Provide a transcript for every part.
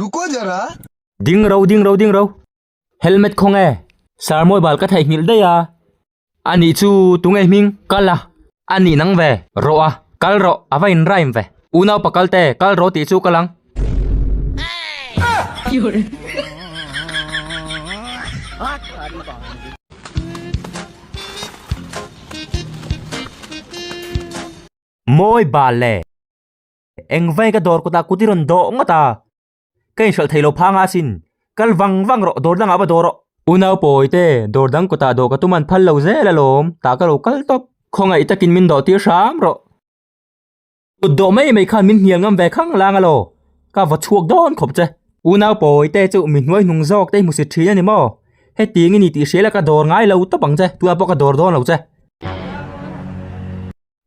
रुको जरा ding ro ding ro ding ro helmet kho nge sir mawi bal ka theih nghilh daih a ani chu tunge hming kal a ani nang ve rawh a kal rawh a va inraim ve u naupa kalte kal rawh tih chu ka lang. Mawi bal le! Engvai ka dawr kawtah kut i rawn dawh ngawt a, ka inhralh thei lo phang a asin, kal vang vang rawh, dawr dangah va daw rawh. Unau pawi te, dawr dang kawtah dawh ka tum an phal lo zel alawm, tah ka lo kal tawp, khawngaih takin min dawh tir hram rawh. Kut dawh mai mai khan min hnial ngam ve khang lang alaw ka va chhuak dawn khawp che. Unau pawi te chu mi hnuai hnung zawk te hi hmusit thin a ni maw? Heti eng i nih tih hriala ka dawr ngai lo tawp ang che, tunah pawh ka dawr dawn lo che.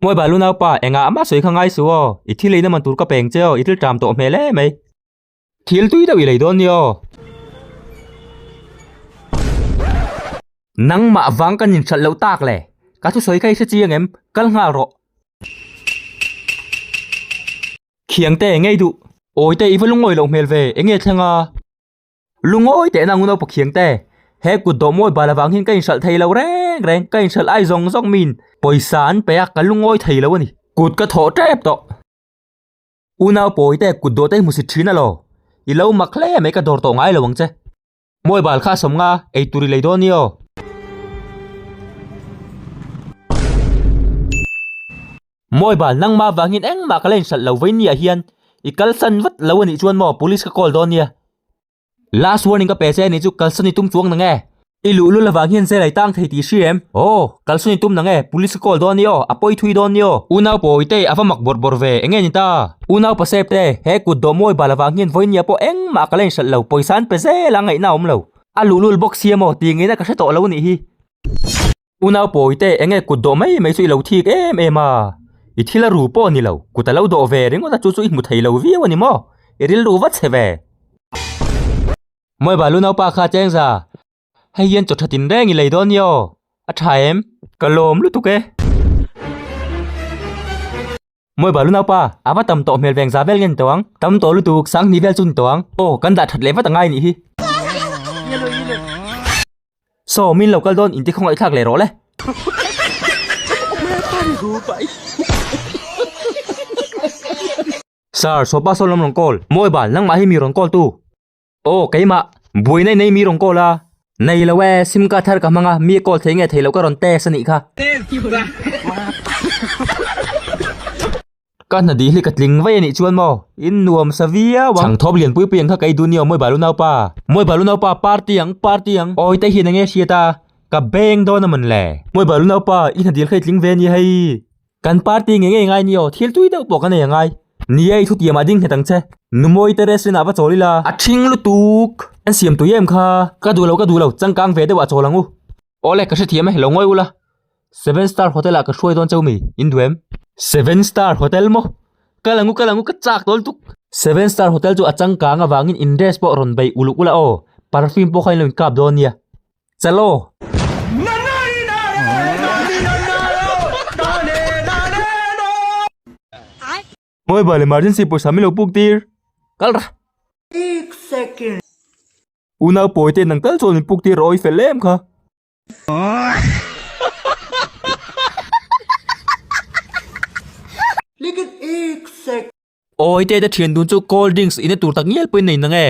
Hmuaiba lu naupa, engah mah sawi kha ngai su aw, i thil ei na man tur ka peng che aw, i thil ṭam tawh hmel emai. Thil tui deuh i lei dawn ni aw. Nangmah vang kan inchhalh loh tak le, ka thu sawi kha i hre chi ang em? Kal nghal rawh. Khiangte eng ngai duh. Awite i va lungawi loh hmel ve, eng nge thleng a? Lungawi tehna ang u naupa Khiangte, he kut dawh mawi bal avangin ka inhralh thei lo reng reng, ka inhralh ai zawng zawng miin pawisa an pe a, ka lungawi thei lo a ni. Kut ka thawh tep tawh. U nau pawi te kut dawh te i hmu si thin alaw i lo mak hle mai ka dawr tawh ngai lo ang che. Mawi bal kha a sawm nga ei tur i lei dawn io. Mawi bal nangma vangin engmah ka la inhralh lo vawiin ni ah hian i kalsan vat lo a nih chuan maw police ka call dawn nia. Last warning ka pe che ani chu kalsa ni tum chuang na nge. I luh lul avang hian zela i tang thei tih hri em? Aw, kalsa ni tum na nge, police ka call dawn ni aw, a pawi thui dawn ni aw. U nau pawi te a va mak bawr bawr ve, enge ni ta? U nau pa sep te, he kut dawh mawi bal avang hian vawinia pawh engmah ka la in hralh lo, pawisa an pe zel a, ngaihna a awm lo. A luh lul bawk si emaw, ti ngei na ka hre tawh lo anih hi. Unau pawi te eng nge kut dawh mai mai chu i lo thik em em a, i thil a ru pawh ni lo, kut a lo dawh ve ringawt a chu chu i hmu thei lo viau a ni maw? I ril ru va chhe ve. Mawihba lu naupa kha cheng za, hei hian chaw thatin reng i lei dawn ni aw, a tha em? Ka lawm lutuk e. Mawi bal unau pa, a va tam tawh hmel veng za vel nge ni tawh ang? Tam tawh lutuk, sang hnih vel chu ni tawh ang. Aw, kan dah that leh vat angai nih hi. Saw, min lo kal dawn, in tikhawngah i thlak leh rawh le. Sir, Saw pa saw lam rawn call. Mawi bal, nangmah hi mi rawn call tu. Aw keimah, buaina i nei mi rawn call a. Nei lo e, sim card har ka hmang a, mi a call thei nge thei lo ka rawn text a nih kha. Ka hna dih hi ka tling vaih a nih chuan maw, in nuam sa viau ang. Chhang thawp lian pui pui ang kha kei du ni aw Mawi balu naupa. Mawi balu naupa party ang, party ang. Awi te hian enge hriat a, ka beng dawn a man le. Mawi balu naupa, i hna dil kha i tling ve a nia hei. Kan party nge ngei ngai ni aw, thil tui deuh pawh ka nei a ngai. Nia i thuti amah ding hne dang che. Numawi te restaurant ah va chawl ila. A chhing lutuk. An siam tui em kha. Ka duh lo ka duh lo, changkang ve deuh ah chawl ang u. Aw le, ka hre thiam e, lo ngawih u la. Seven Star Hotel ah ka hruai dawn cheu mi, in duh em? Seven Star Hotel maw? Ka lang u ka lang u, ka chak tawl tuk. Seven Star Hotel chu a changkang avangin in dress pawh rawn beih uluk ula aw, perfume pawh kha in lo inkap dawn nia. Chalo! Ngawi vale emergency pawisa milo puk tir kal ra. Unau pawi te nang kal chuan min puk tir raw i fel em kha. Awi te te thian dun chu cold drinks ina tur tak ngial pawhin a inang e.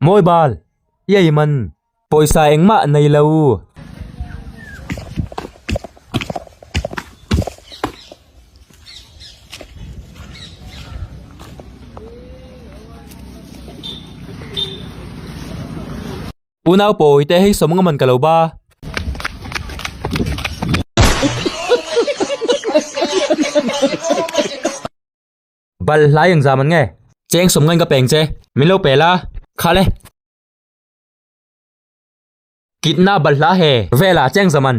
Mawi bal i ei man pawisa engmah nei lo. Pu nau pawi te hei sawmnga man ka lo ba. Bal hlai eng za man nge. Cheng sawmnga in ka peng che. Min lo pel a. Kha le. Kitna bal hla he. Vela cheng za man.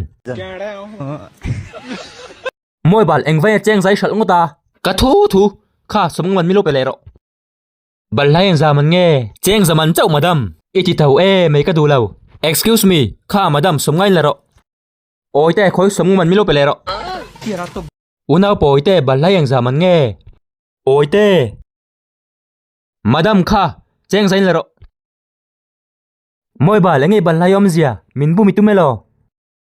Mawi bal eng vaiin a cheng zai hralh ngawt a. Ka thu thu. Kha sawmnga man min lo pe leh rawh. Bal hlai in zam an nge? Cheng zam an chauh madam. I ti tho e mai ka duh lo. Excuse me, kha madam sawm ngai la rawh. Awi te khawi sawm ngawman milo pe leh rawh. Unau pawi te bal hlai eng zam an nge? Awi te. Madam kha cheng zain la rawh. Mawibal enge bal hlai awm zia min bu mi tu melaw.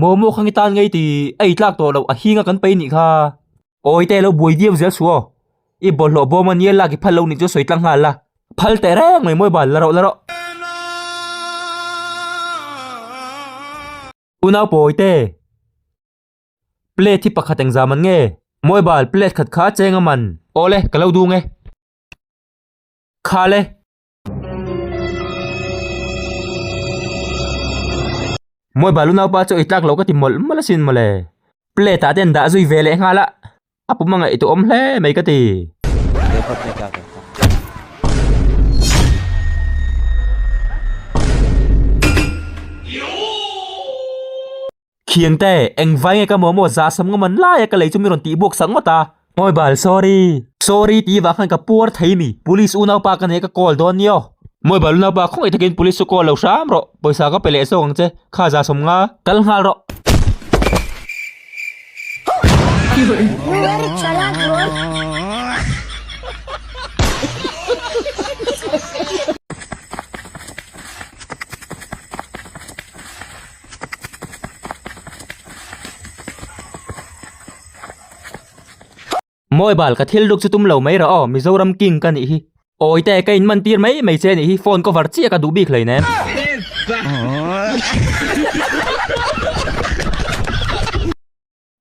Maw maw khange tan ngei ti a i tlak tawh loh, a hing a kan pei nih kha. Awi te lo buai viau zel su aw, i bawlhhlawh bawm a nia lak i phal lo nih chu sawi tlang nghal la, phal teh reng mai mawi bal la rawh la rawh. Unau pawi te, plate hi pakhat eng za man nge, mawi bal plate khat kha a cheng a man. Awle, ka lo dung e. Khale. Mawi balu naupa chu eitlak lo ka ti mawlh mawlh asin mawle. Plate ah ten dah zui ve leh nghal a, a puma ngaih tu awm hle mai ka ti. Khiangte, engvai nge ka maw maw za sam ngawm an lai a, ka lei chu min rawn tih buak sak ngawt a. Ngawi bal, sorry. Sorry tih vah khan ka puar thei mi, police unaupa ka nih ka call dawn ni aw. Ngawi bal unaupa khawngaih takin police chu call lo hram rawh, pawisa ka pe leh zawk ang che, kha za sawm nga. Kal nghal rawh. Mawi bal, ka thil duk chu tum lo mai rah aw, Mizoram King ka nih hi. Awi te, ka inman tir mai mai che nih hi, phone cover chiah ka duh bik hlei nen.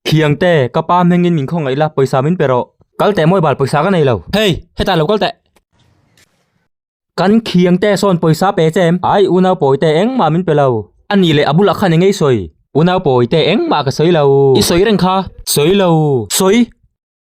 Thiang te, ka pa hmengin min khaw ngaih la, pawisa min pe rawh. Kal teh mawih bal, pawisa ka nei lo. Hei, hetah lo kal teh. Kan Thiang te sawn pawisa pe che em? Ai, unau pawi te, engmah min pe lo. A nih leh, a bulah khan engei sawi? Unau pawi te, engmah ka sawi lo. I sawi reng kha. Sawi lo. Sawi.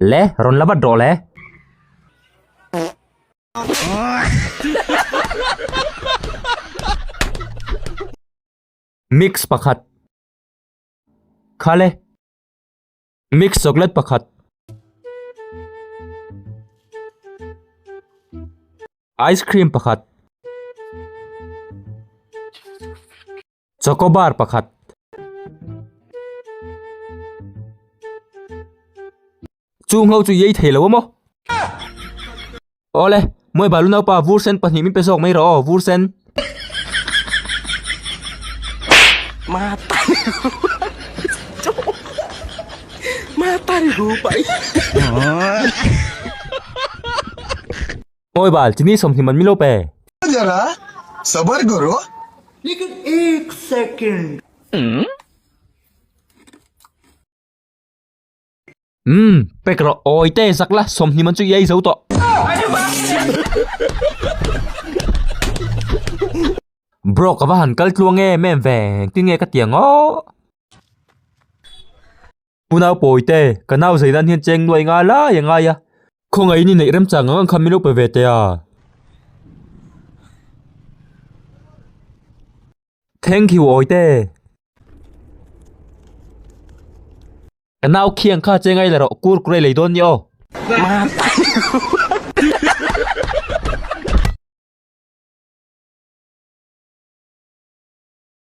Le rawn la vat rawh le. Mix pakhat. Khale. Mix chocolate pakhat. Ice cream pakhat. Chocobar pakhat. Chung ho chu i ei thei lo a maw? Awle, Mawi balu naupa, vur sen pahnih min pe zawk mai rawh aw, vur sen. Oi bal, chini sawmhnih man milo pe. Aa zara, sabar karo. Lekin ek second. Umm, pe karo. Oi te zak la, sawmhnih man chu i ei zo tawh. Bro, ka va han kal tluang e, men veng tin nge ka tia ngawh. Pu nau pawi te, ka nau zai nan hian cheng nuai nga lai a ngai a. Khawngaih i ni neih rem chang ang ang kha min lo pe ve teh a. Thank you awi te. Ka nau khi ang kha cheng ai la rawh, kur kurai lei dawn ni aw.